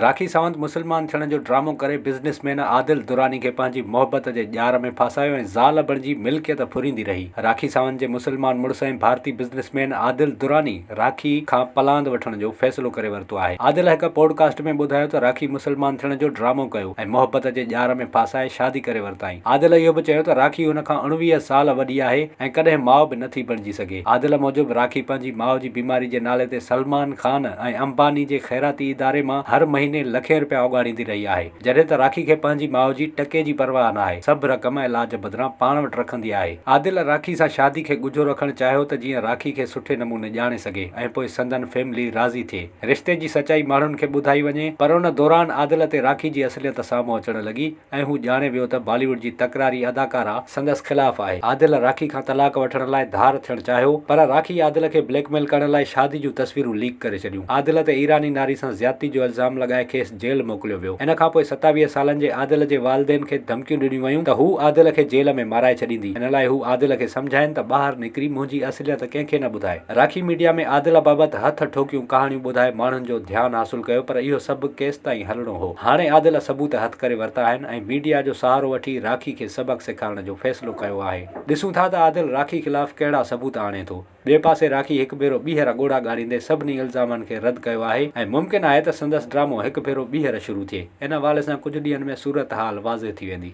راکي ساوند مسلمان ٿيڻ جو ڊرامو ڪري بزنس مين عادل دراني کي پنهنجي محبت جي ڄار ۾ ڦاسايو ۽ زال بڻجي ملڪيت ڦريندي رهي. راکي ساوند جي مسلمان مڙس ۽ ڀارتي بزنس مين عادل دراني راکي کان پلاند وٺڻ جو فيصلو ڪري ورتو آهي. عادل هڪ پوڊ ڪاسٽ ۾ ٻڌايو ته راکي مسلمان ٿيڻ جو ڊرامو ڪيو ۽ محبت جي ڄار ۾ ڦاسائي شادي ڪري ورتائين. عادل اهو به چيو ته راکي هن کان اڻويهه سال وڏي آهي ۽ ڪڏهن ماء به نٿي بڻجي سگهي. عادل موجب راکي پنهنجي ماء جي بيماري جي نالي تي سلمان خان ۽ امباني جي خيراتي اداري مان هر مهيني لکين رپيا اوڳاڙيندي رهي آهي جڏهن ته راکي کي پنهنجي ماء جي ٽڪي جي پرواهه ناهي سڀ رقم علاج بدران پاڻ وٽ رکندي آهي عادل راکي سان شادي کي ڳجهو رکڻ چاهيو ته جيئن راکي کي سٺي نموني ڄاڻي سگهي ۽ پوء سندن فيملي راضي ٿئي رشتي جي سچائي ماڻهن کي ٻڌائي وڃي پر ان دوران عادل تي راکي جي اصليت سامهون اچڻ لڳي ۽ هو ڄاڻي ويو ته بالي ووڊ جي تڪراري اداڪارا سندس خلاف آهي. عادل راکي کان طلاق وٺڻ لاء ڌار ٿيڻ چاهيو پر راکي عادل کي بليڪ ميل ڪرڻ لاء شادي جون تصويرون ليڪ ڪري ڇڏيون. عادل تي ايراني ناري سان زيادتي جو الزام لڳائي کيس جيل موڪليو ويو. ان کان پوء ستاويهه سالن جي عادل جي والدين کي ڌمڪيون ڏنيون ويون ته هو عادل کي جيل ۾ مارائي ڇڏيندي. ان لاء هو عادل کي سمجهائين ته ٻاهر نڪري منهنجي اصليت ڪنهن کي نه ٻڌائي. راکي ميڊيا ۾ عادل بابت هٿ ٺوڪيون ڪهاڻيون ٻڌائي ماڻهن جو ڌيان حاصل ڪيو پر اهو سڀ ڪيستائين هلڻو. هو. هاڻي عادل ثبوت هٿ ڪري ورتا آهن ۽ ميڊيا جو سهارو وٺي راکي کي سبق سيکارڻ جو فيصلو ڪيو آهي. ڏسون ٿا ته عادل راکي خلاف ڪهڙا ثبوت آڻي ٿو. ٻئي پاسي راکي هڪ ڀيرو ٻيهر ڳوڙها ڳاڙيندي سڀني الزامن کي رد ڪيو آهي ۽ ممڪن آهي ته سندس ڊرامو هڪ ڀيرو ٻيهر شروع ٿئي. ان حوالي سان ڪجهه ڏينهن ۾ صورتحال واضح ٿي ويندي.